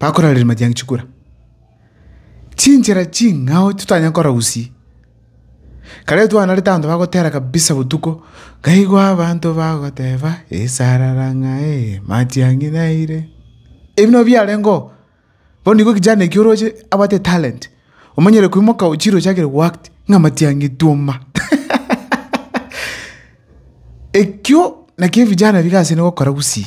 Bakora ririma ria chikura, chinchera ching'ao totanyare kora usie. Kare twanarete abanto bagotera kabisa botuko, nkaigwa abanto bagoteba esarara ng'ae matiang'i naire. Ebi nabio biarengeo, bono igo kijana ekio oroche abwate etalent, omanyire koimoka ochire ochakire go act ng'a matiang'i twoma. Ekio nakio ebijana biga ase gokora gusii.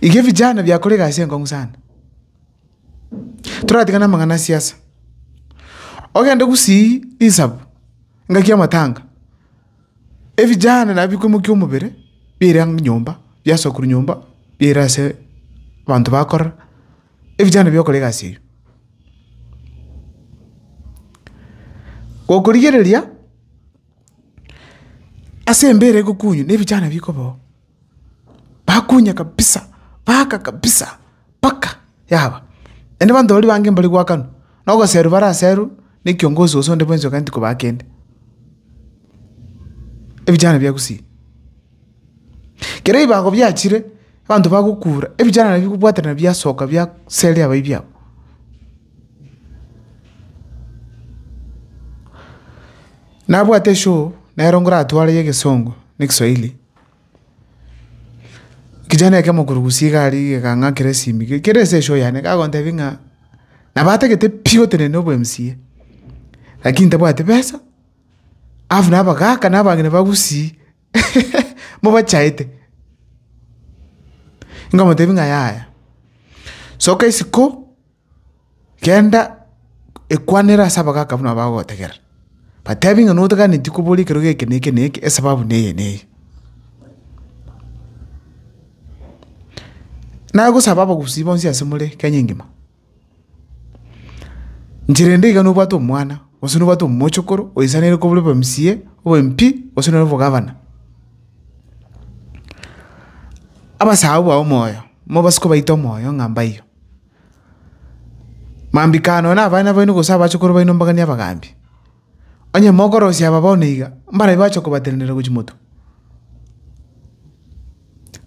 Iga ebichano biakora egasi enkong'u sana. Toratigane amang'ana a siasa, ogende gusii risabu ngaki amatanga, ebichana nabo bikomokia omobere biire ang'e nyomba, biasoa korwa nyomba biire ase abanto bakorora, ebichana bikore egasi eywo. Gokorigereria ase embere egokunywa na ebichana bikoba oo. Bakunya kabisa, baaka kabisa, mpaka yaba. Naende abanto baria bange mbare goakanwa, na ogoserwa bare aserwe ne kiongosi gose onde bwensi oganeti kobaa kende. Ebichara bia Gusii. Kero ebibago biachire, abanto bagokura, ebichara nabia kobwaterana biasoka bia seria abaibi abo. Nabwate show, nero ngoratware ya egesongo ne ekeswahili. Kijana ekio mokurugusi iga aria iga ekang'akera esimi iga ekero ase eshow yane iga agontebia ng'a nabatagete pi otenene obo mca lakini ntabwati besa alafu na abagaka na abang'ina bagusii mobachaete. Nkomotebia ng'a yaya soka isiko. genda ekwanere ase abagaaka buna bagogotegerera, batebi ng'a notaganeti kobora ekerogo eke na eke na eke esababu neye na eye. Nagosaba abagusii bonsi ase more Kenya engima, nchera ende iga nobwate omwana gose nobwate omochokoro oisaneire kobora obe mca, obe mp, gose noro obogavana, abasaao bao moyo, mobasuke obaite omoyo ng'a mbaiyo. Mambia ikana nonya nabana baino gose abachukuru baino mbaganie abagaambi. Onye mokorosia aba bono iga, mbarabi bache kobatenenera gochia motwe.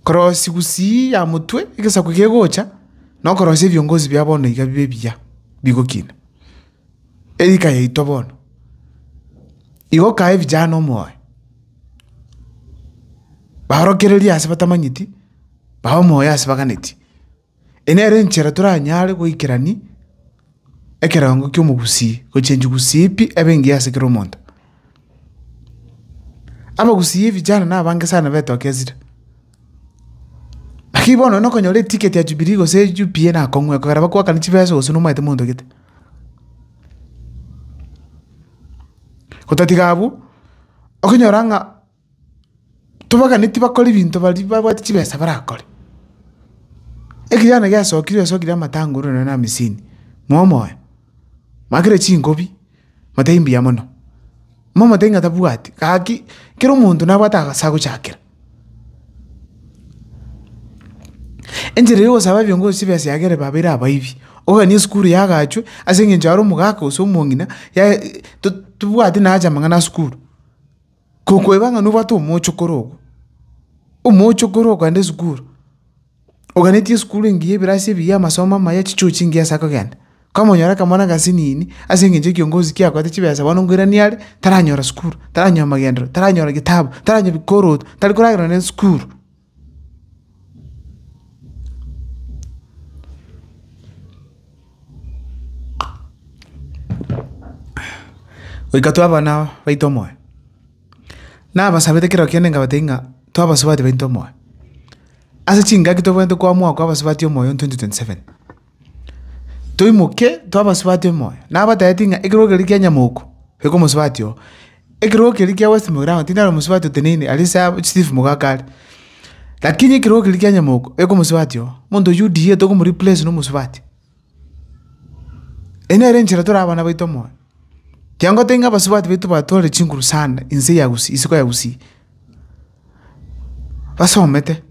Korosia gusii ya motwe egesaku kegocha, na okorosia ebiongozi bia bono iga bibe ebiya, bigokina. Erika yaito bono, igo okae vijana omoyo, baorokererie ase batamanyeti, bae omoyo ase baganetie. Enere enchera toranyare goikerania ekerango ki'omogusii gochenchia gusii pi ebe engiya ase kera omonto. Abagusii ebichara nabange sana betogesire. Naki bono onye nokonyora eticket ya Jubilee gose UPA nakong'u ekogera bakoakane chibesa gose nomaete monto gete. Otatiga abwo, okonyora ng'a. tobagane tibakore ebinto baria babwate chibesa barakore. Ekegene giasokire osokire amatanguru nonye na amisini, moe moe, makire chingobi matai mbuya mono. Moe moe ting'a tabwati gaki kera omonto nabwate agase agochakera. Enchera ya ogosaba ebio ngochi chibesa iga kere baba ere abaibi, oganie esukuru yagachwe ase eng'encho are omogaka gose omong'ina tobwati naye ache amang'ana asukuru. Tokoeba ng'a nobwate omochokoro ogo, omochokoro okogenda esukuru, oganetie esukuru engiya ebirasi ebiya amasomo amaya chichuo chingiya ase akogenda, kwamonyora akamwana gasinini ase eng'encho ekiongozi kiakoete chibesa bono ngoirani are, taranyora sukuru, taranyora amagenderero, taranyora getabu, taranyora bikoroto, tari koragerwa nere sukuru. Goika twabana baito omoyo. Nabasabete kera okiande nkabatebi ng'a twabasubati baito omoyo. Ase chingaki tobwenerete koa mwaka oa abasubati omoyo in 2027? Toimoke twabasubati omoyo. Nabatebetie ng'a ekerogo keria kia Nyamoko, iko omosubati oo. Ekerogo keria kia West Mogirango tindari omosubati oteneine aria ase abo chief Mogaka are. Lakini ekerogo keria kia Nyamoko, iko omosubati oo. Omonto oyio UDA tokomo replace nomosubati. Eyio nere enchera tore abana baito omoyo. Kiagoteba ng'a abasubati baito batore chinguru sana inse ya Gusii isiko ya Gusii. basomete,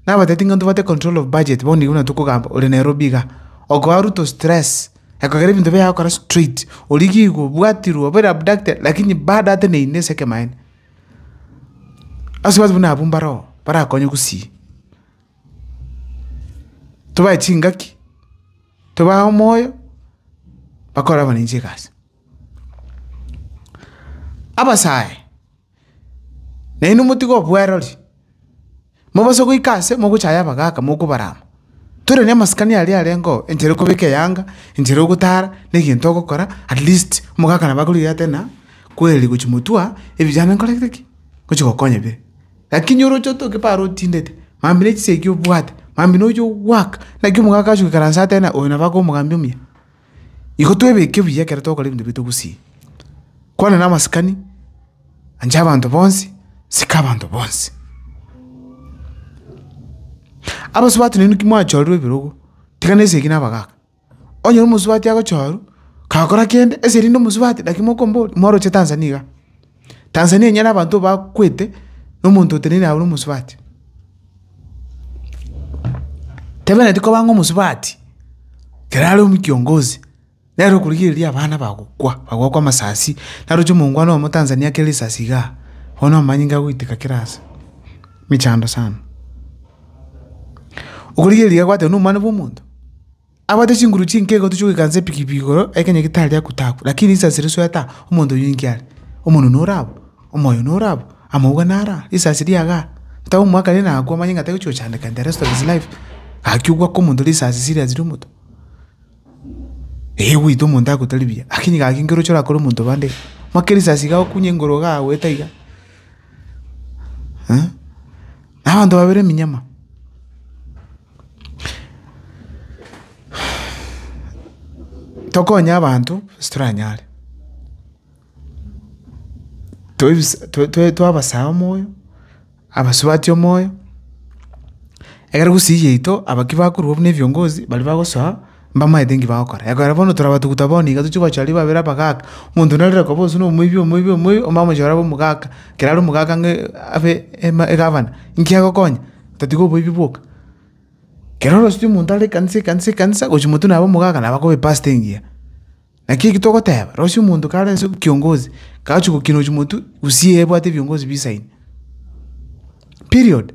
nabatebitie ng'a ntobwate control of budget bono igo buna tokogamba ore Nairobi iga, okoa Ruto stress, ekogera ebinto biaye agokora straight, oria gigo obwatirwe obere abducted lakini bado ateneine ase ekemanyererio. Ase abanto buna abwo mbaro oo barakonye gusii, tobae chingaki, tobae omoyo, bakore abananchi egasi. Abasae. Na inwe motige obwerori, mobase goika aase mogochaya abagaaka mokobarama. Tore namasikani aria arengeo, enchera yokobeka eyanga, enchera yogotara, na egento ogokora, at least omogaka nabo akorigera ate ng'a kweri gochi motwa, ebiya yane nkorete ki? Ngochi gokonya ebiya ebi. Lakini oroche otoke paro otindete, mambia buna echisegi obwate, mambia nonya ogoaka, naki omogaka agochi goikaransa ateba ng'a oyo nabo abe omogambia omuya. Igo twebeke buya ekero tokora ebinto biaito gusii. Kwana namasikani, ancha abanto bonsi, sika abanto bonsi. Abasubati nainwe ki mwachorerwe ebirogo, tiga na esegi na abagaka. Onyore omosubati agochorwa, kagokora kende, ase erinde omosubati naki mokombori, moroche Tanzania iga. Tanzania enyare abanto bakwete, na omonto oteneine aye ore omosubati. Tebeneti koba ng'a omosubati, kera are omokiongozi, nere okorigereria abana bagokwa, bagokwa amasasi, naroche omongwana oyomo Tanzania ake risasi igaa, bono omanyinga agoiteka kera ase, mechando sana. Okorigereria gwateba nomwana bwa omonto. Abwate chinguru chinke igo tochia goikansa ebigibi igoro ekenya getari agotagwa, lakini risasi risoeta omonto oyio ninki are? Omonwe nore abwo? Omoyo nore abwo? Amauga nare aa? Risasi ria igaa? Tari omwaka rende nagakwa omanye ng'a tagochia gochandeka in the rest of his life? Gaki ogwaka omonto risasi serious ria omoto? Ee gweita omonto agote tari buya, lakini gaki nkere ochia orakore omonto bande iga, omanye kera risasi igagokunye igoro igaa goeta iga? Eeh. Na abanto babere eminyama. Tokonye abanto ase toranyare, toebi twabasaya omoyo, abasubati omoyo, ekero gusii yaito aba ki bakorwa buna ebiongozi, baria bagosoa. Mbamaete inki bagokora? Ekero bono torabatuguta bono iga tochie goacha aria babere abagaaka, omonto onde narore koba ase nomoibi, omoibi, omoibi, omamosio orabe omogaka, kera are omogaka ng'a abe ema egavana, inki agokonya? Otatiga oboibi bwoka. Kero oroseti omonto are ekanisa, ekanisa, ekanisa, gochia omonto nabe omogaka nabe akoba epastor engiya. Naki eki togoteba, rosia omonto kare ase kiongozi, kachia gokina ochia omonto, gusii ebwate ebiongozi bisaine. Period.